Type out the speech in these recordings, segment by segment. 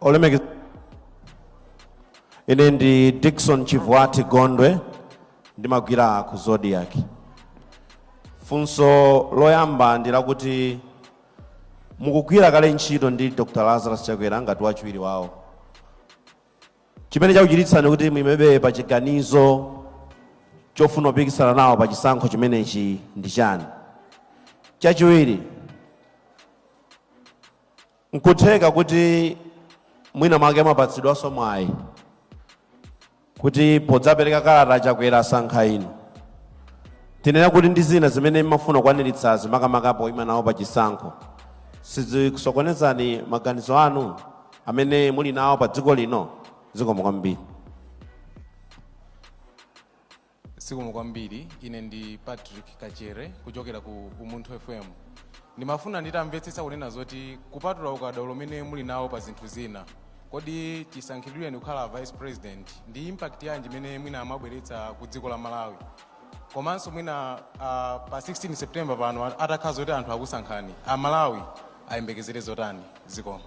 olemekeza ine ndi dickson chivwati gondwe ndimagwira ku zodiac funso loyamba ndi lakuti mukugwira kale ntchito ndi dr lazarus chakwera ngati wachiwiri wawo chimene chakuchititsani kuti muimebe pa chiganizo chofuna kupikisana nawo pa chisankho chimenechi ndi chani chachiwiri nkutheka kuti mwina mwake mwapatsidwanso mwayi kuti podzapereka kalata chakwera asankha inu tinene kuti ndi zina zimene mmafuna kukwaniritsazi makamaka poima nawo pa chisankho sizikusokonezani maganizo anu amene muli nawo pa dziko lino zikomo kwambiri zikomo kwambiri ine ndi patrick kachere kuchokera ku umunthu fm ndimafuna nditamvetsetsa kunena zoti kupatula ukadaulo umene muli nawo pa zinthu zina kodi chisankhidwireni kukhala vice president ndi impact yanji imene mwina mwabweretsa ku dziko la malawi komanso mwina ah, pa 16 september pano atakhala zoti anthu akusankhani amalawi ayembekezere zotani zikomo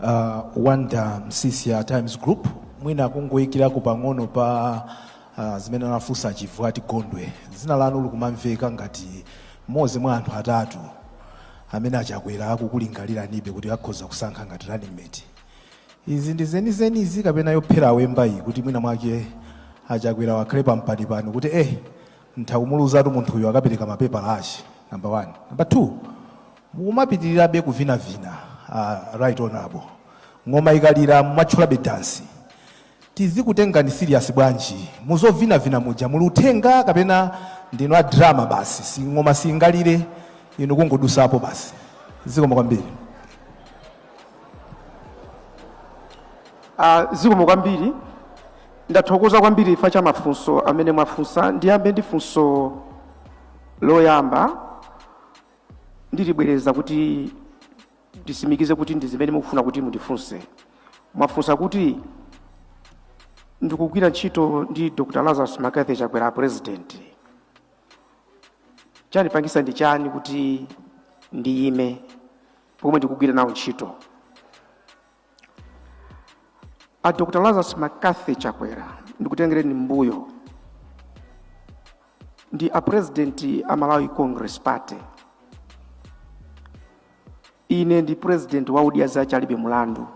uh, wonder msiska times group mwina kungoyikirako pang'ono pa uh, zimene anafunsa a chivwati gondwe dzina lanu likumamveka ngati mmodzi mwa anthu atatu amene achakwera akukulingaliranibe kuti akhoza kusankha ngati running mate Izi ndi zenizeni izi kapena yophera awemba iyi kuti mwina mwake achakwerawo akhale pampanipani kuti eh nditha kumuluzatu munthuyu akapereka mapepala ake number one number two mukumapitirizabe kuvinavina uh, right honorable ng'oma ikalira mumatchulabe dansi Tizikutengani serious bwanji muzovinavina muja? Muli uthenga kapena ndinu a drama basi? Si ng'oma singalire inu kungodutsapo basi. Zikomo kwambiri. Ah, zikomo kwambiri ndathokoza kwambiri chifukwa cha mafunso amene mwafunsa ndiyambe ndi funso loyamba ndilibwereza kuti ndisimikize kuti ndi zimene mukufuna kuti mundifunse mwafunsa kuti ndikugwira ntchito ndi dr lazarus mccarthy chakwera president chandipangisa ndi chani kuti ndiyime pomwe ndikugwira nawo ntchito a dr lazarus mccarthy chakwera ndikutengereni mbuyo ndi a president a malawi congress party ine ndi president wa odya zake alibe mulandu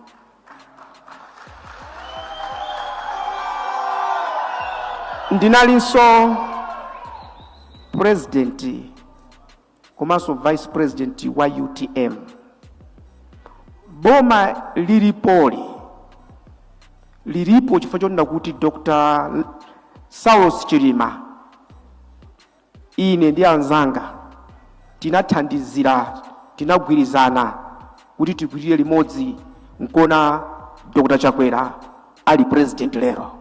ndinalinso president komanso vice president wa utm boma lilipoli lilipo chifukwa chonena kuti dr saulos chilima ine ndi anzanga tinathandizira tinagwirizana kuti tigwirire limodzi nkuona dr chakwera ali president lero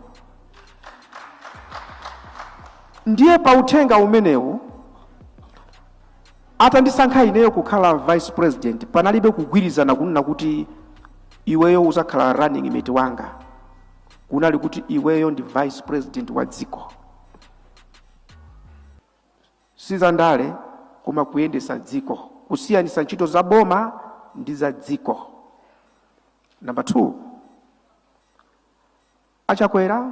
ndiye pa uthenga umenewu atandisankha ineyo kukhala vice president panalibe kugwirizana kunena kuti iweyo uzakhala running mate wanga kunali kuti iweyo ndi vice president wa dziko si za ndale koma kuyendesa dziko kusiyanisa ntchito za boma ndi za dziko number 2 Achakwera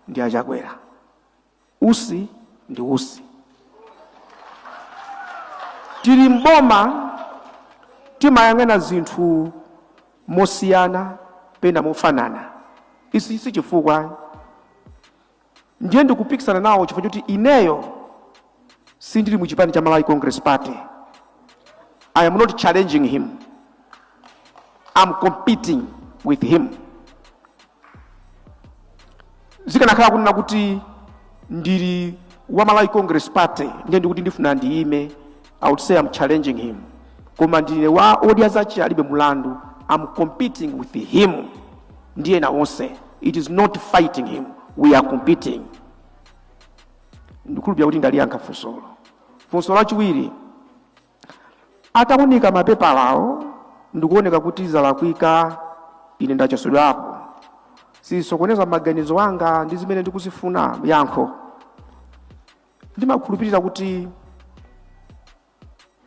ndi achakwera, Usi ndi Usi. Tili m'boma timayang'ana zinthu mosiyana pena mofanana, ichi si chifukwa ndiye ndikupikisana nawo chifukwa choti ineyo sindili mu chipani cha Malawi Congress Party. I am not challenging him, I'm competing with him. zikanakhala kunena kuti ndili wa malawi congress party ndiye ndikuti ndifuna ndiyime i would say i'm challenging him koma ndine wa odya zake alibe mulandu i'm competing with him ndiye na onse it is not fighting him we are competing ndikhulupira kuti ndaliyankha funsolo funso lachiwiri Ataunika mapepalawo ndikuoneka kuti zalakwika, ine ndachotsedwapo. Sizisokoneza maganizo anga ndi zimene ndikuzifuna yankho. Ndimakhulupirira kuti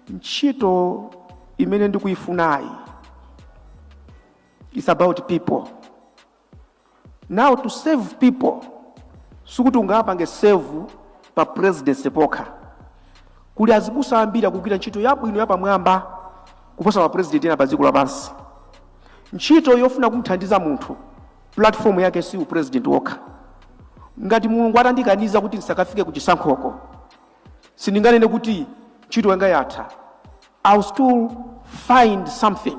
ntchito imene ndikuifunayi it's about people. Now to serve people sikuti ungapange serve pa presidency pokha. Kuli azibusa ambiri akugwira ntchito yabwino yapamwamba kuposa ma president ena pa dziko lapansi. Ntchito yofuna kumthandiza munthu platform yake si u president wokha. Ngati Mulungu atandikaniza kuti ndisakafike ku chisankhoko, sindinganene kuti ntchito yanga yatha. I'll still find something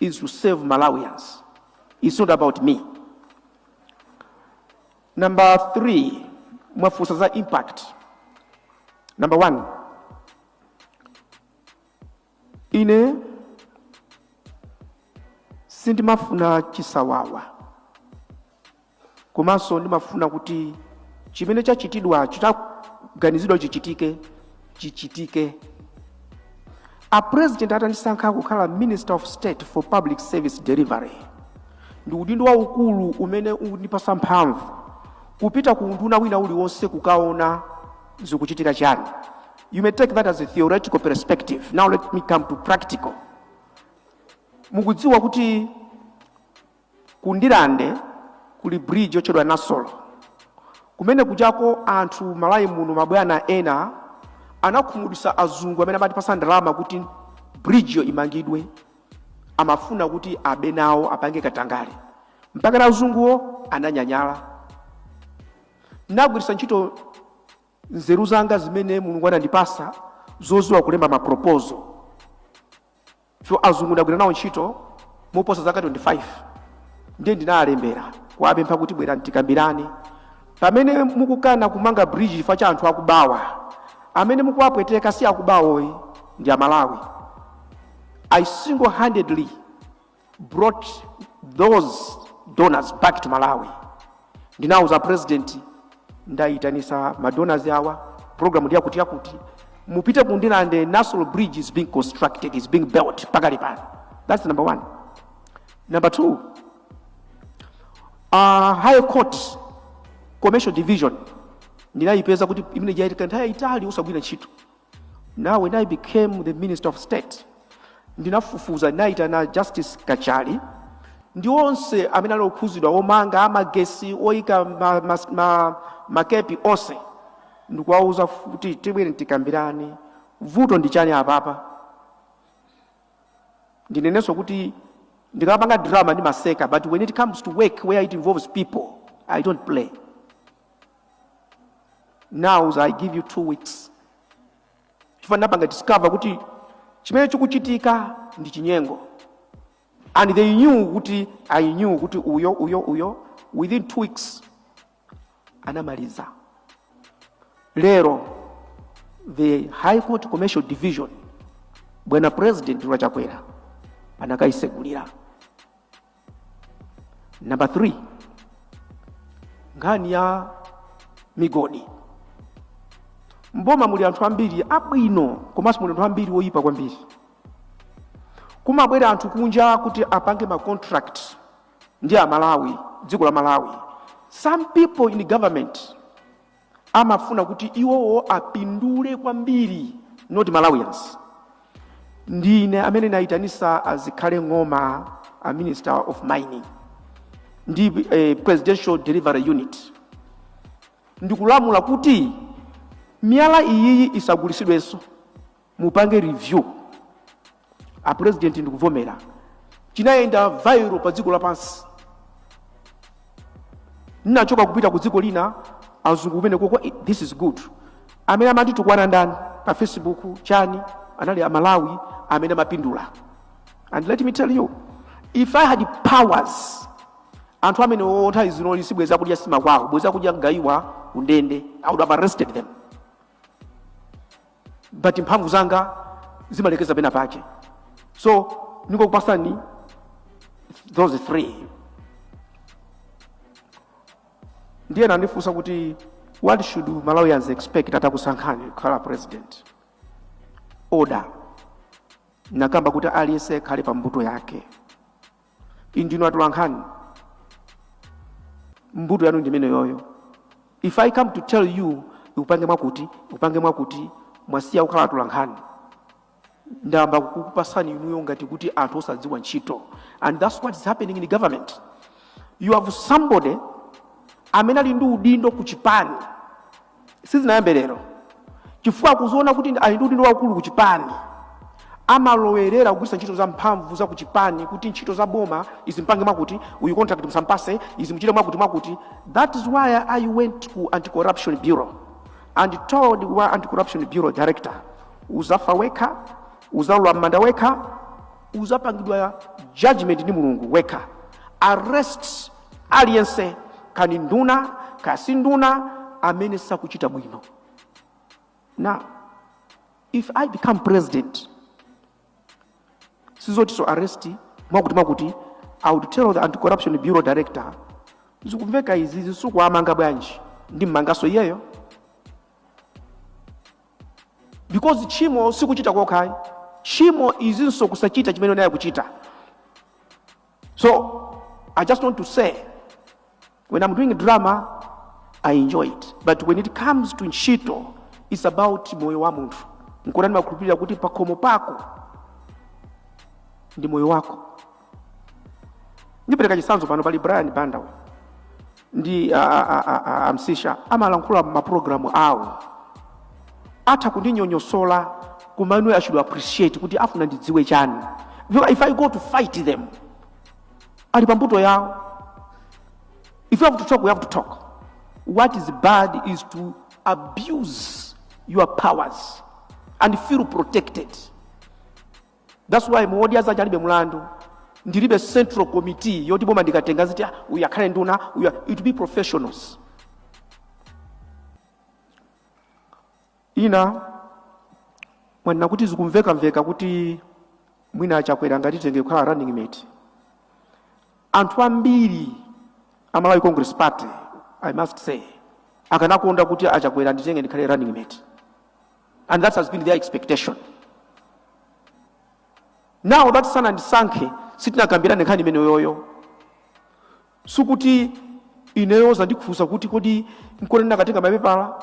is to save Malawians. It's not about me. Number three, mwafunsa za impact. Number one, ine sindimafuna chisawawa komanso ndimafuna kuti chimene chachitidwa chitaganizidwa chichitike chichitike a president atandisankha kukhala minister of state for public service delivery ndi udindo waukulu umene umandipasa mphamvu kupita ku unduna wina uliwonse kukaona zikuchitika chani you may take that as a theoretical perspective now let me come to practical mukudziwa kuti Ku Ndirande kuli bridge yotchedwa Nasolo. Kumene kujako anthu Malawi muno mabwana ena anakhumudwisa azungu amene amatipasa ndalama kuti bridge yo imangidwe. Amafuna kuti abe nawo apange katangale. Mpakana azunguwo ananyanyala. Ndagwirisa ntchito nzeru zanga zimene Mulungu anandipasa zoziwa kulemba ma proposal. so azungu ndagwira nawo ntchito moposa zaka 25 ndiye ndinawalembera kuwapempha kuti bwerani tikambirane pamene mukukana kumanga bridge chifukwa cha anthu akubawa amene mukuwapweteka si akubawoyi ndi a Malawi i single handedly brought those donors back to malawi ndinauza president ndaitanisa madonors awa program ndi yakuti yakuti mupite ku Ndirande Nasolo bridge is being constructed is being built pakali pano that's number one number two uh, high court commercial division ndinayipeza kuti imeneija itatha nthawi yaitali osagwira ntchito Now when I became the Minister of State, ndinafufuza ndinayitana Justice Kachali ndi onse amene ali okhuzidwa omanga amagesi oyika ma, ma, ma, makepi onse ndikuwauza kuti tibwere tikambirane vuto ndi chani apapa ndinenenso kuti ndikapanga drama ndimaseka but when it comes to work where it involves people i don't play now i give you two weeks chifukwa ndapanga discover kuti chimene chikuchitika ndi chinyengo and they knew kuti i knew kuti uyo uyo uyo within two weeks anamaliza lero the high court commercial division bwana president wa Chakwera anakaisegulira Number 3 nkhani ya migodi. Mboma muli anthu ambiri abwino komanso muli anthu ambiri oyipa kwambiri. Kumabwera anthu kunja kuti apange ma contract ndi a Malawi, dziko la Malawi. Some people in government amafuna kuti iwowo apindule kwambiri not malawians ndine amene ndinayitanisa azikhale ng'oma a minister of mining ndi eh, presidential delivery unit ndikulamula kuti miyala iyiyi isagulisidwenso mupange review a president ndikuvomera chinayenda viral pa dziko lapansi ndinachoka kupita ku dziko lina azungu kumene kuti "Eh, this is good amene amanditukwana ndani pa facebook chani anali amalawi amene amapindula and let me tell you if i had powers anthu amene otha Lizinoli sibweza kudya sima kwawo bweza kudya mgaiwa kundende i would have arrested them but mphamvu zanga zimalekeza pena pake so ndingakupasani those three ndiye mwandifunsa kuti what should malawians expect atakusankhani kukhala president order nakamba kuti aliyense akhale pa mbuto yake inu ndinu atolankhani mbuto yanu ndimene yoyo if i come to tell you mupange mwakuti mupange mwakuti mwasiya kukhala atolankhani ndayamba kukupasani inuyo ngati kuti anthu osadziwa ntchito and that's what is happening in the government you have somebody amene ali ndi udindo ku chipani sizinayambe lero chifukwa akuziona kuti ndi- ali ndi udindo waukulu ku chipani amalowerera kugwiritsa ntchito za mphamvu za kuchipani kuti ntchito za boma izi mpange mwakuti uyu contract musampase izi muchite mwakuti mwakuti that is why i went ku anti-corruption bureau and told wa anti-corruption bureau director uzafa wekha uzalowa m'manda wekha uzapangidwa judgment ndi mulungu wekha arrest aliyense kaya ndi nduna kaya si nduna amene sakuchita bwino now if i become president sizotinso arrest mwakuti mwakuti i would tell the anti-corruption bureau director zikumveka izi usakuwamanga bwanji ndimmanganso iyeyo because tchimo sikuchita kokhayi tchimo ndinso kusachita chimene unayenera kuchita So I just want to say, when I'm doing drama, I enjoy it. But when it comes to ntchito, it's about moyo wa munthu. Nkona ndimakhulupirira kuti pakhomo pako ndi moyo wako. Ndipereka chitsanzo pano pali Brian Banda uyu. ndi a- a- a- a- a- amsisha amalankhula maprogramu awo atha kundinyonyosola koma inu i should appreciate kuti afuna ndidziwe chani if i go to fight them ali pambuto yawo if you have to talk we have to talk what is bad is to abuse your powers and feel protected That's why mu Odya Zache Alibe Mulandu. Ndilibe central committee yoti boma ndikatenga ziti ah, uyu akhale nduna uyu it will be professionals. Ina mwanena kuti zikumveka mveka kuti mwina a Chakwera anganditenge kukhala running mate. Anthu ambiri a Malawi Congress Party I must say akanakonda kuti a Chakwera anditenge ndikhale running mate. and that has been their expectation now that sanandisankhe sitinakambirane nkhani imeneyoyo sikuti ineyo zandifunsa kuti kodi nkona ndakatenga mapepala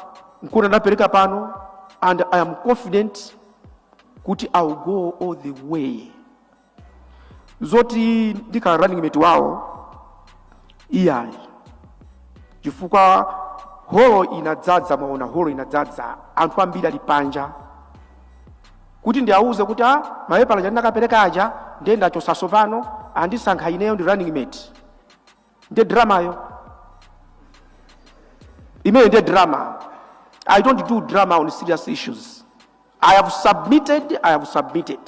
nkona ndapereka pano and i am confident kuti i will go all the way zoti ndikhala running mate wawo iyayi chifukwa holo inadzadza mwaona holo inadzadza anthu ambiri ali panja kuti ndiawuze kuti a mapepala aja ndinakapereka aja ndiye ndachosa so pano andisankha ineyo ndi running mate ndiye dramayo imeyo ndiye drama i don't do drama on serious issues i have submitted i have submitted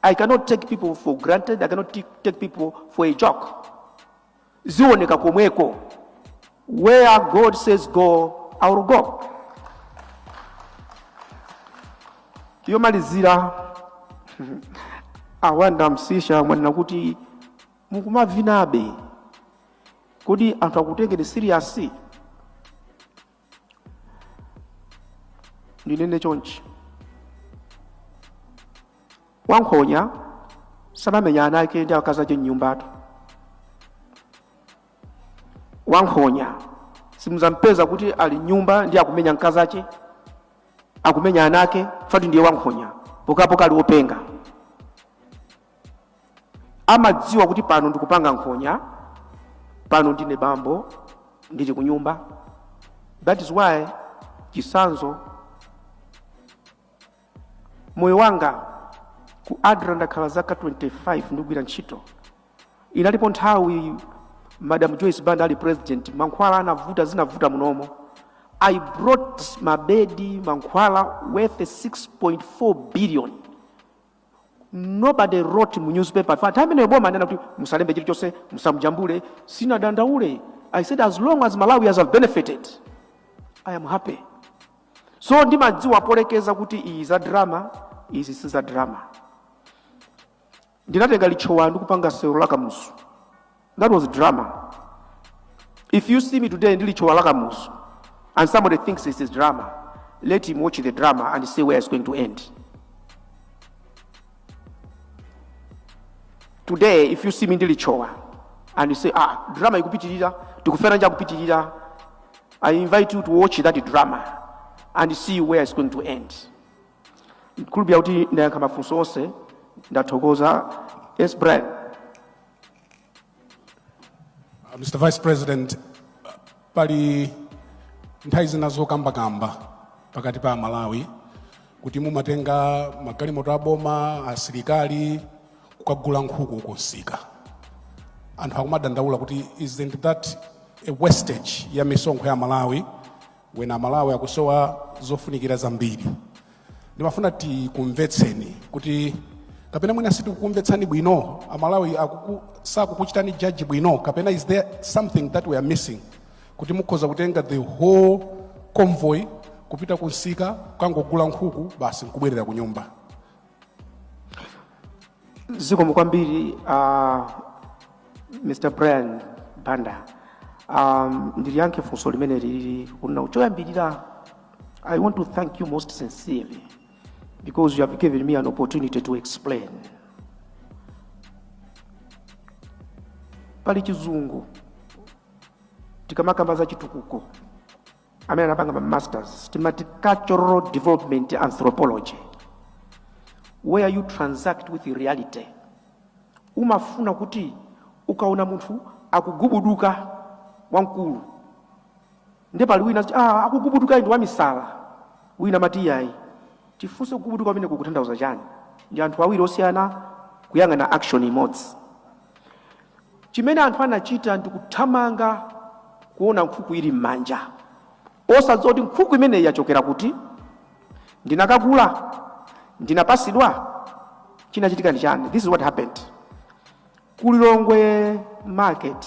i cannot take people for granted i cannot t- take people for a joke zioneka komweko where god says go i will go yomalizira awanda msisha mwanena kuti mukumavinabe kodi anthu akutengeni serious ndinene chonchi wankhonya samamenya ana ake ndi akazache mnyumbatu wankhonya simuzampeza kuti ali mnyumba ndi akumenya mkazache akumenya ana ake fati ndiye wankhonya pokapoka ali openga amadziwa kuti pano ndikupanga nkhonya pano ndine bambo ndili ku nyumba that is why chisanzo moyo wanga ku adra ndakhala zaka 25 ndikugwira ntchito inalipo nthawi madam joyce banda ali president mankhwala anavuta zinavuta munomo i brought mabedi mankhwala worth 6.4 billion nobody wrote mu newspaper pa time imeneyo boma anena kuti musalembe chilichonse musamjambule sinadandaule i said as long as malawians have benefited i am happy so ndimadziwa polekeza kuti izi za drama izi si za drama ndinatenga litchowa ndikupanga sewero la kamuzu That was drama. If you see me today ndili chowa lakamuzu and somebody thinks this is drama, let him watch the drama and see where it's going to end. Today if you see me ndili chowa and you say ah drama ikupitirira tikufera nja kupitirira I invite you to watch that drama and see where it's going to end. Kulubya kuti ndayankha mafunso onse ndathokoza. Yes Brian. Uh, Mr. Vice President, uh, pali nthawi zina zokambakamba pakati pa Amalawi kuti mumatenga magalimoto a boma asilikali kukagula nkhuku kunsika anthu akumadandaula kuti isn't that a wastage ya misonkho ya Amalawi when amalawi akusowa zofunikira zambiri ndimafuna tikumvetseni kuti kapena mwina sitikukumvetsani bwino amalawi akuku, sakukuchitani judge bwino kapena is there something that we are missing kuti mukhoza kutenga the whole convoy kupita kunsika kangogula nkhuku basi nkubwerera kunyumba zikomo kwambiri uh, mr brian banda um, ndiliyankhe funso limene lili kunena choyambirira i want to thank you most sincerely because you have given me an opportunity to explain pali chizungu tikamakamba za chitukuko amene anapanga ma masters timati cultural development anthropology where you transact with reality umafuna kuti ukaona munthu akugubuduka wamkulu nde pali wina ah, akugubuduka ndi wamisala wina amati yayi tifunse kugubuduka kumeneku kukutanthauza chani ndi anthu awiri osiyana kuyang'ana action imodzi Chimene anthu anachita ndi kuthamanga kuona nkhuku ili m'manja, osadziwa kuti nkhuku imeneyi yachokera kuti? Ndinakagula? Ndinapasidwa? Chinachitika ndi chani? This is what happened ku Lilongwe market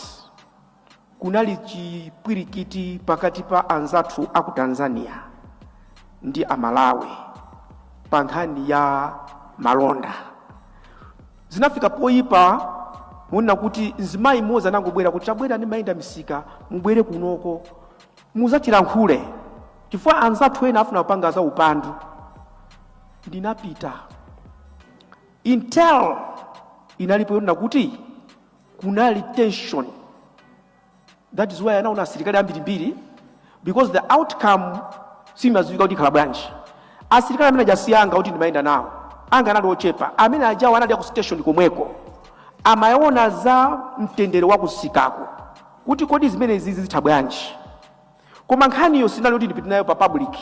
kunali chipwirikiti pakati pa anzathu aku Tanzania ndi Amalawi pa nkhani ya malonda. Zinafika poyipa monena kuti mzimayi mmodzi anangobwera kuti chabwera n'chimayenda misika mubwere kunoko muzatilankhule chifukwa anzathu ena afuna kupanga za upandu. Ndinapita intel inalipo yonena kuti kunali tension that is why anaona asilikali ambirimbiri because the outcome simadziwika kuti ikhala bwanji asilikali amene aja si anga kuti ndimayenda nawo anga anali ochepa amene ajawo anali aku station komweko amaona za mtendere wa kusikako kuti kodi zimenezizi zitha bwanji Koma nkhaniyo sinali yoti ndipite nayo pa public,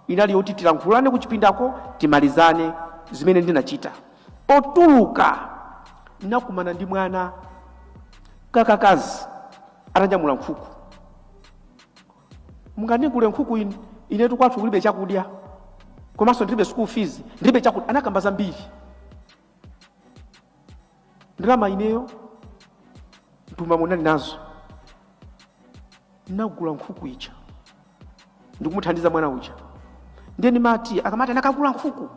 inali yoti tilankhulane kuchipindako timalizane. Zimene ndinachita, potuluka ndinakumana ndi mwana kakakazi atanyamula nkhuku. Mungandigule nkhuku? Inetu kwathu kulibe chakudya komanso ndilibe school fees, ndilibe chakudya. Anakamba zambiri. ndalama ineyo mtumba munali nazo ndinagula nkhuku ija ndikumuthandiza mwana uja ndiye ndimati akamati anakagula nkhuku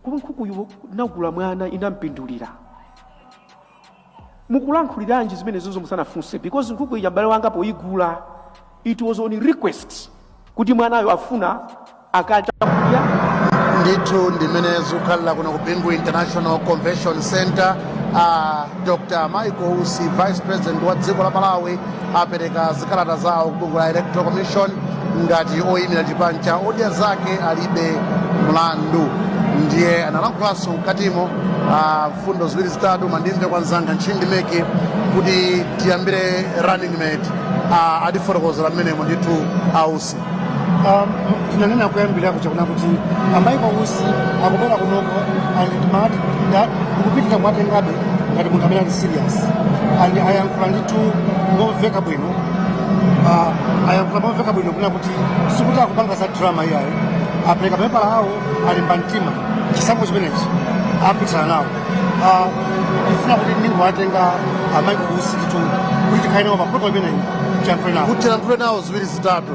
koma nkhukuyo ndinagula mwana inampindulira mukulankhuliranji zimenezozo musanafunse because nkhuku ija m'bale wanga poyigula it was on request kuti mwanayo afuna akadya ndithu ndimene zikukhalira kuno ku bingu international convention center a dr michael usi vice president wa dziko la malawi apereka zikalata zawo kubungwe la electoral commission ngati oyimira chipani cha odya zake alibe mlandu ndiye analankhulanso mkatimo a mfundo ziwiri zitatu koma ndimve kwa mzanga ntchindi meki kuti tiyambire running mate ah, atifotokozera mmenemo ndithu ausi Um, tinanena kuyambira kuja kunena kuti a Michael Usi akubwera kunoko and timati ndikupitirira kuwatengabe ngati munthu amene ali serious and ayankhula ndithu momveka bwino Ah, ayankhula momveka bwino kunena kuti sikuti akupanga za drama iyayi apereka mapepala awo alimba mtima chisankho chimenechi apikisana nawo Ah, ndifuna kuti ndingowatenga a Michael Usi ndithu kuti tikhale nawo paprogramu imeneyi tiyankhule nawo kuti tiyankhule nawo ziwiri zitatu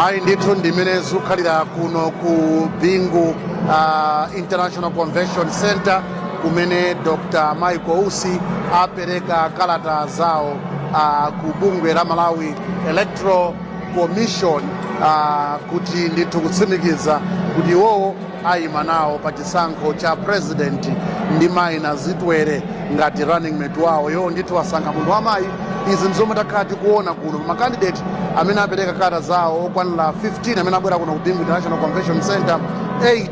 ayi ndithu ndimene zikukhalira kuno ku bingu uh, international convention center kumene dr michael usi apereka kalata zawo uh, ku bungwe la malawi electoral commission uh, kuti ndithu kutsimikiza kuti iwowo ayima nawo pa chisankho cha president ndi mayi nazitwere ngati running mate wawo iwowo ndithu wasankha munthu wamayi izi ndizomwe takhala tikuona kuno pa makandidate amene apereka kalata zawo okwanira 15 amene abwera kuno ku bingu international convention center 8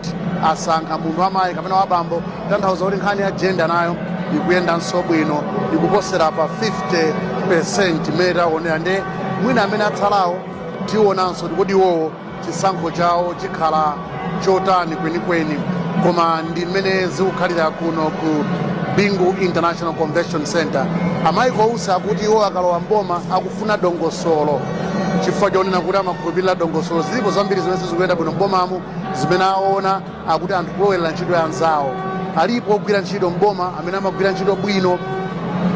asankha munthu wamayi kapena wabambo tanthauza kuti nkhani ya jenda nayo ikuyendanso bwino ikuposera pa 50 percent imene taonera nde mwina amene atsalawo tionanso kuti kodi iwowo chisankho chawo chikhala chotani kwenikweni koma ndi mmene zikukhalira kuno ku bingu international convention center a Michael Usi akuti iwo akalowa mboma akufuna dongosolo chifukwa chonena kuti amakhulupirira dongosolo zilipo zambiri zimene sizikuyenda bwino mbomamu zimene aona akuti anthu kulowerera ntchito ya anzawo alipo ogwira ntchito mboma amene amagwira ntchito bwino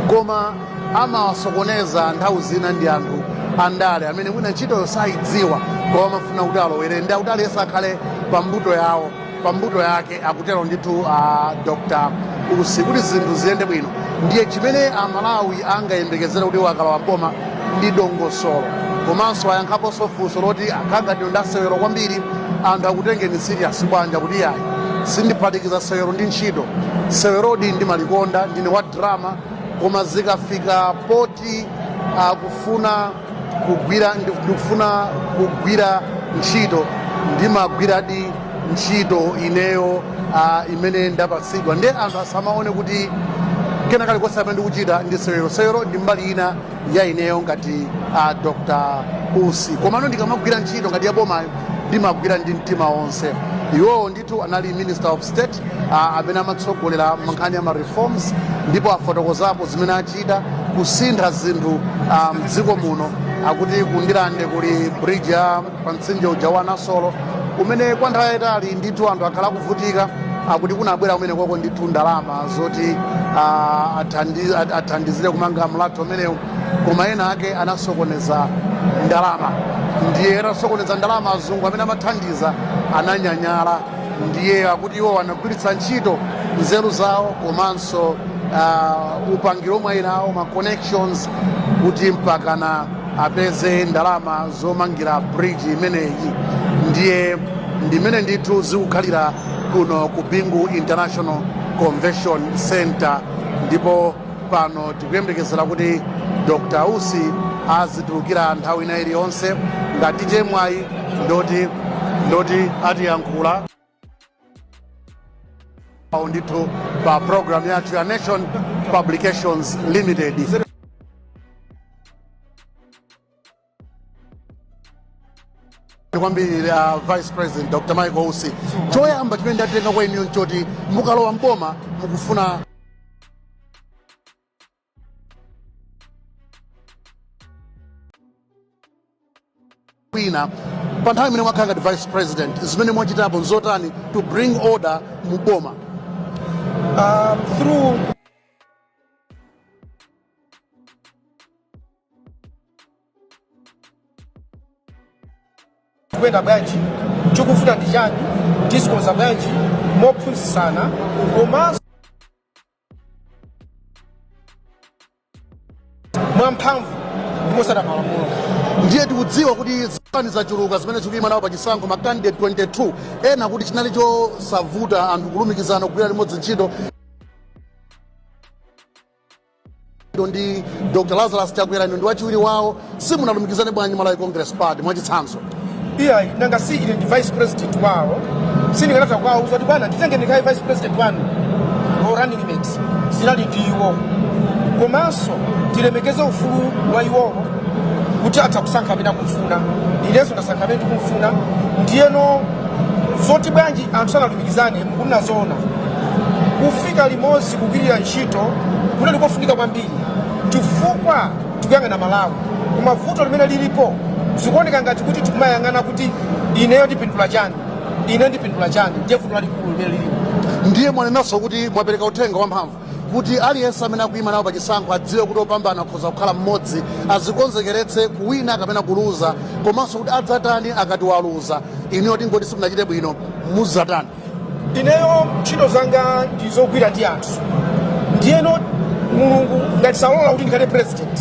koma amawasokoneza nthawi zina ndi anthu andale amene mwina ntchitoyo sayidziwa koma amafuna kuti alowere ndi akuti aliyense akhale pa mbuto yawo pa mbuto yake akutero ndithu a dr usi kuti zinthu ziyende bwino ndiye chimene amalawi angayembekezere kuti akalowa m'boma ndi dongosolo komanso ayankhaponso funso loti akhala ngati ndasewero kwambiri anthu akutengeni serious bwanja kuti yayi sindiphatikiza sewero ndi ntchito sewerodi ndimalikonda ndine wa drama koma zikafika poti akufuna kugwira ndikufuna kugwira ntchito ndimagwiradi ntchito ineyo uh, imene ndapatsidwa nde anthu asamaone kuti kena kalikonse amene ndikuchita ndi sewero sewero ndi mbali ina ya ineyo ngati a uh, dr usi komano ndikamagwira ntchito ngati yabomayo ndimagwira ndi mtima wonse iwowo ndi Ndithu anali Minister of State uh, amene amatsogolera nkhani ya ma reforms ndipo afotokozapo zimene achita kusintha zinthu ah, mdziko um, muno akuti kundirande kuli bridge ya pa mtsinje uja wa Nasolo umene kwa nthawi yayitali ndithu anthu akhala akuvutika akuti kunabwera kumene koko ndithu ndalama zoti uh, athandizire kumanga mlatho umenewu koma ena ake anasokoneza ndalama ndiye atasokoneza ndalama azungu amene amathandiza ananyanyala ndiye akuti iwo anagwiritsa ntchito nzeru zawo komanso uh, upangiro omwe ali nawo ma connections kuti mpakana apeze ndalama zomangira bridge imeneyi ndiye ndimene ndithu zikukhalira kuno ku bingu international convention center ndipo pano tikuyembekezera kuti dr usi azitulukira nthawi ina iliyonse ngati chemwayi ndoti atiyankhula ndithu pa programu yathu ya nation publications limited kwambiri a vice president dr michael usi choyamba chimene ndatenga kwa inuyo nchoti mukalowa mboma mukufuna wina pa nthawi imene mwakhala ngati vice president zimene mwachitapo nzotani to bring order mu boma Um, through tikuyenda bwanji chikufunika ndi chani tizikonza bwanji mophunzitsana komanso mwamphamvu ndi motsata malamulo ndiye tikudziwa kuti zipani zachuluka zimene zikuyima nawo pa chisankho ma candidate 22 ena akuti chinali chosavuta anthu kulumikizana kugwira limodzi ntchito iwo ndi dr lazarus chakwera inu ndi wachiwiri wawo simunalumikizane bwanji malawi congress party mwachitsanzo iyayi nanga si ine ndi vice president wawo sindingatha kuwauza kuti bwana nditenge ndikhale vice president wanu or running mate zinali ndi iwo komanso tilemekeze ufulu wa iwowo kuti atha kusankha amene akumfuna inenso ndasankha amene ndikumfuna ndiyeno zoti bwanji anthu sanali Tikizane mukunena zoona kufika limodzi kugwirira ntchito kunali kofunika kwambiri chifukwa tikuyang'ana malawi koma vuto limene lilipo zikuoneka ngati kuti tikumayang'ana kuti ineyo ndipindula chani ine ndipindula chani ndiye vuto lalikulu limene lilipo ndiye mwanenanso kuti mwapereka uthenga wamphamvu kuti aliyense amene akuyima nawo pa chisankho adziwe kuti opambana akhoza kukhala mmodzi, azikonzekeretse kuwina kapena kuluza komanso kuti adzatani akati waluza. Inuyo tingoti simunachite bwino, mudzatani? Ineyo ntchito zanga ndi zogwira ndi anthu, ndiyeno Mulungu ngati salola kuti ndikhale president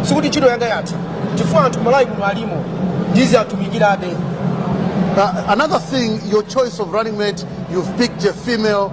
sikuti ntchito yanga yatha, chifukwa anthu Malawi muno alimo ndiziwatumikirabe. Uh, another thing, your choice of running mate, you've picked a female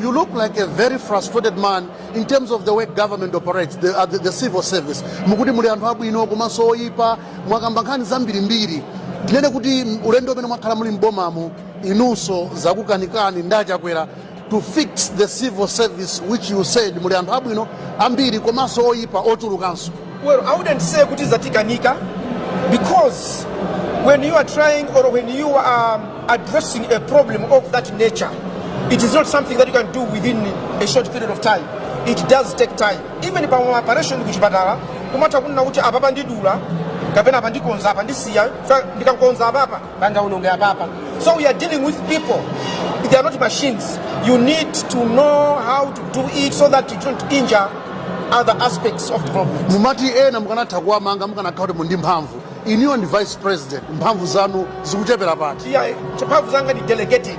You look like a very frustrated man in terms of the way government operates, the, uh, the, the civil service. Mukuti muli anthu abwino komanso oyipa mwakamba nkhani zambirimbiri. Tinene kuti ulendo umene mwakhala muli m'bomamo inunso zakukanikani ndi achakwera to fix the civil service which you said muli anthu abwino ambiri komanso oyipa ochulukanso. Well, I wouldn't say kuti zatikanika because when you are trying or when you are um, addressing a problem of that nature, it is not something that you can do within a short period of time. It does take time. Even pama operation kuchipatala, kumatha kunena kuti apapa ndidula kapena apa ndikonza apa ndisiya ndikakonza apapa pangaononge apapa so we are dealing with people they are not machines you need to know how to do it so that you don't injure other aspects of development mumati ena mukanatha kuwamanga mukanakhala kuti muli ndi mphamvu inuyo ndi vice president mphamvu zanu zikuchepera pati yeah mphamvu zanga ndi delegated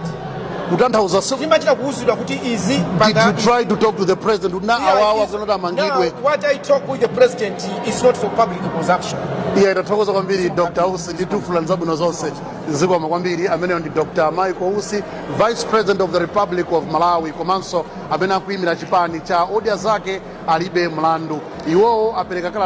kutanthauza si- timachita kuuzidwa kuti izi did you pangani. try to talk to the president kuti na Yeah, awawa it's- kuno ti amangidwe now, what I talk with the president is not for public consumption. iyayi tathokoza kwambiri dr usi ndi tikufunirani zabwino zonse zikomo kwambiri ameneyo ndi dr michael usi vice president of the republic of malawi komanso amene akuyimira chipani cha odya zake alibe mlandu iwowo apereka kalata